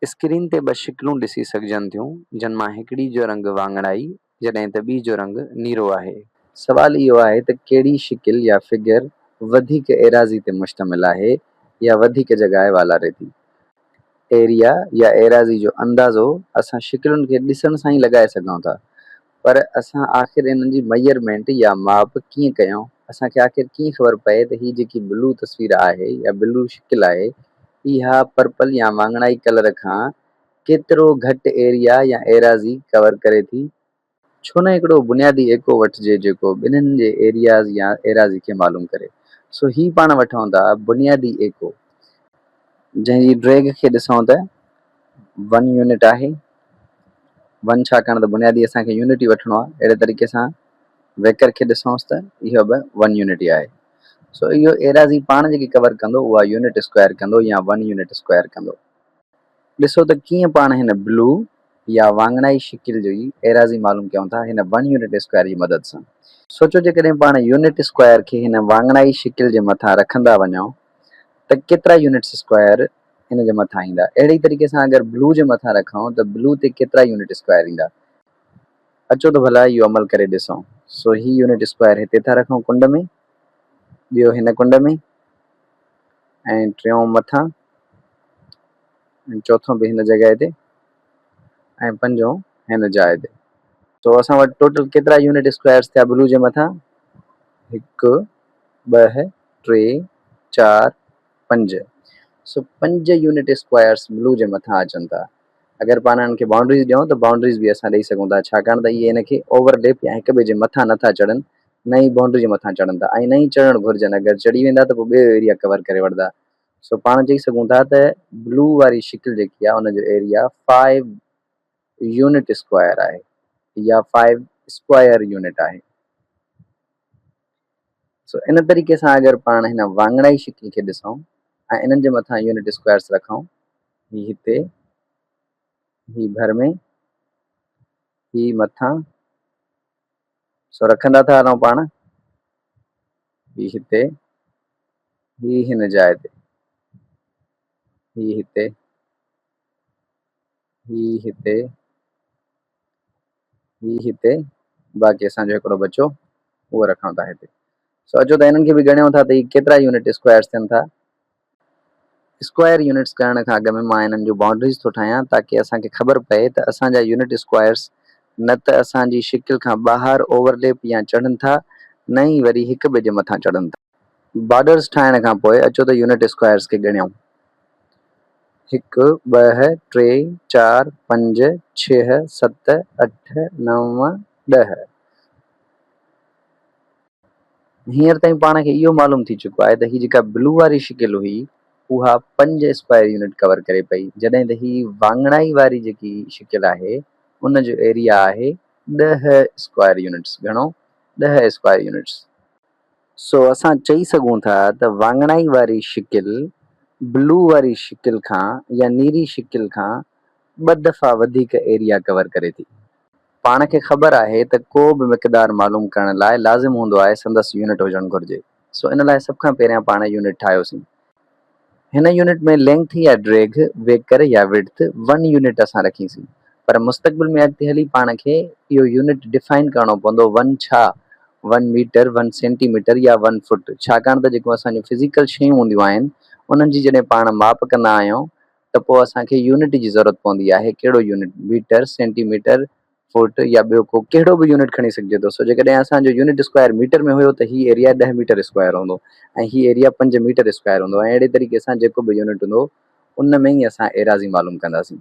Screen تي ٻه شڪلون ڏسي سگهجن ٿيون، جن مان هڪڙي جو رنگ واڱڻائي جڏهن ته ٻي جو رنگ نيرو آهي. سوال اهو آهي ته ڪهڙي شڪل يا فگر وڌيڪ ايراضي تي مشتمل آهي يا وڌيڪ جڳائي والاري ٿي. ايريا يا ايراضي جو اندازو اسان شڪلن کي ڏسڻ سان ئي لڳائي سگهون ٿا. پر اسان آخر انهن جي ميئرمينٽ يا ماپ ڪيئن ڪيون؟ اسان کي آخر ڪيئن خبر پئي ته هي جيڪي بلو تصوير آهي يا بلو شڪل آهي اها پرپل يا واڱڻائي ڪلر کان ڪيترو گهٽ ايريا يا ايراضي ڪور ڪري ٿي؟ ڇو نه هڪڙو بنيادي ايڪو وٺجي جيڪو ٻنهين جي ايرياز يا ايراضي کي معلوم ڪري؟ سو هي پاڻ وٺون ٿا بنيادي ايڪو جنهن جي ڊريگ کي ڏسون ته ون يونٽ آهي، ون ڇاڪاڻ ته بنيادي اسان کي يونٽ ئي وٺڻو آهي، اهڙي طريقي سان ويڪر کي ڏسونس ته اهو به ون يونٽ ئي آهي. سو اهو ايراضي پاڻ جيڪي ڪور ڪندو اها يونٽ اسڪوائر ڪندو يا ون يونٽ اسڪوائر ڪندو. ڏسو ته ڪيئن پاڻ هن بلو يا وانگڻائي شڪل جي ايراضي معلوم ڪيون ٿا هن ون يونٽ اسڪوائر جي مدد سان. سوچو جيڪڏهن پاڻ يونٽ اسڪوائر کي هن وانگڻائي شڪل جي مٿان رکندا وڃون ته ڪيترا يونٽس اسڪوائر ان جي مٿان ايندا. اهڙي ئي طريقي سان اگر بلو جي مٿان رکون ته بلو تي ڪيترا يونٽ اسڪوائر ايندا. اچو ته ڀلا اهو عمل ڪري ڏسون. سو هي يونٽ اسڪوائر هتي ٿا رکون ڪنڊ ۾، ٻيو هن ڪنڊ ۾، ۽ ٽيون مٿان، ۽ چوٿون به هن جڳهه تي، ۽ پنجون هن جاء تي. سو اسان وٽ ٽوٽل ڪيترا يونٽ اسڪوائرس ٿيا بلو جي مٿان؟ هڪ، ٻه، ٽي، چار، پنج سو پنج يونٽ اسڪوائرس بلو جي مٿان اچن ٿا اگر پاڻ انهن کي بائونڊريز ڏيون ته بائونڊريز به اسان ڏئي سگهون ٿا ڇاڪاڻ ته اهي ان کي اوور ليپ يا هڪ ٻئي جي مٿان نه ٿا چڙهن نه ئي بائونڊري جي مٿان چڙهن ٿا ۽ نه ئي چڙهڻ گهرجن اگر چڙهي ويندا ته پوء ٻيو ايريا ڪور ڪري وٺندا سو پاڻ چئي سگهون ٿا ته بلو واري شڪل جيڪي آهي ان جو ايريا فائيو يونٽ اسڪوائر آهي يا فائيو اسڪوائر يونٽ آهي سو ان طريقي سان اگر پاڻ هن وانگڻائي شڪل کي ڏسون ۽ انهن جي مٿان يونٽ اسڪوائرس رکون هي هتي هي ڀر ۾ هي مٿان سو رکندا ٿا هلون پاڻ هي هتي هي هن جاء تي هي هتي هي هتي هي هتي باقي اسان جو هڪڙو بچو اهو رکڻ ٿا هتي سو اچو ته هنن کي به ڳڻيو ٿا ته هي ڪيترا يونٽ اسڪوائرس ٿين ٿا اسڪوائر يونٽس ڪرڻ کان اڳ ۾ مان هنن جون بائونڊريز ٿو ٺاهيان تاڪي اسان کي خبر پئي ته اسان جا يونٽ اسڪوائرس نه ته اسان جي شڪل کان ٻاهر اوورليپ يا چڙهن ٿا نه ئي وري هڪ ٻئي جي مٿان چڙهن ٿا. بارڊرز ٺاهڻ کان پوء اچو ته يونٽ اسڪوائرز کي ڳڻيون، هڪ، ٻه، ٽي، چار، پنج، ڇهه، ست، اٺ، نو، ڏهه. هينئر تائين پاڻ کي اهو معلوم ٿي چڪو آهي ته هي جيڪا بلو واري شڪل هئي اها پنج اسڪوائر يونٽ ڪور ڪري پئي جڏهن ته هي واڱڻائي واري جيڪي شڪل آهي ان جو ايريا آهي ڏهه اسڪوائر يونٽس، گهڻو، ڏهه اسڪوائر يونٽس. سو اسان چئي سگهون ٿا ته واڱڻائي واري شڪل بلو واري شڪل کان يا نيري شڪل کان ٻه دفعا وڌيڪ ايريا ڪور ڪري ٿي. پاڻ کي خبر آهي ته ڪو به مقدار معلوم ڪرڻ لاء لازم هوندو آهي سندس يونٽ هجڻ گهرجي. سو ان لاء سڀ کان پهريان پاڻ يونٽ ٺاهيوسين. هن يونٽ ۾ لينگٿ يا ڊريگهه، ويڪر يا وڊٿ، ون يونٽ اسان رکين سين. پر مستقبل ۾ اڳتي هلي پاڻ کي اهو يونٽ ڊفائن ڪرڻو پوندو ون ڇا؟ One metre, one centimetre يا ون فوٽ؟ ڇاڪاڻ ته جيڪو اسان جون فزيڪل شيون هونديون آهن انهن جي جڏهن پاڻ ماپ ڪندا آهيون ته پوء اسان کي يونٽ جي ضرورت پوندي آهي ڪهڙو unit? Metre, centimetre, foot يا ٻيو ڪو ڪهڙو به يونٽ کڻي سگهجي ٿو سو جيڪڏهن اسان جو يونٽ اسڪوائر ميٽر ۾ هيو ته هي ايريا ڏهه ميٽر اسڪوائر هوندو ۽ هي ايريا پنج ميٽر اسڪوائر هوندو ۽ اهڙي طريقي سان جيڪو به يونٽ هوندو ان ۾ ئي اسان ايراضي معلوم ڪنداسين.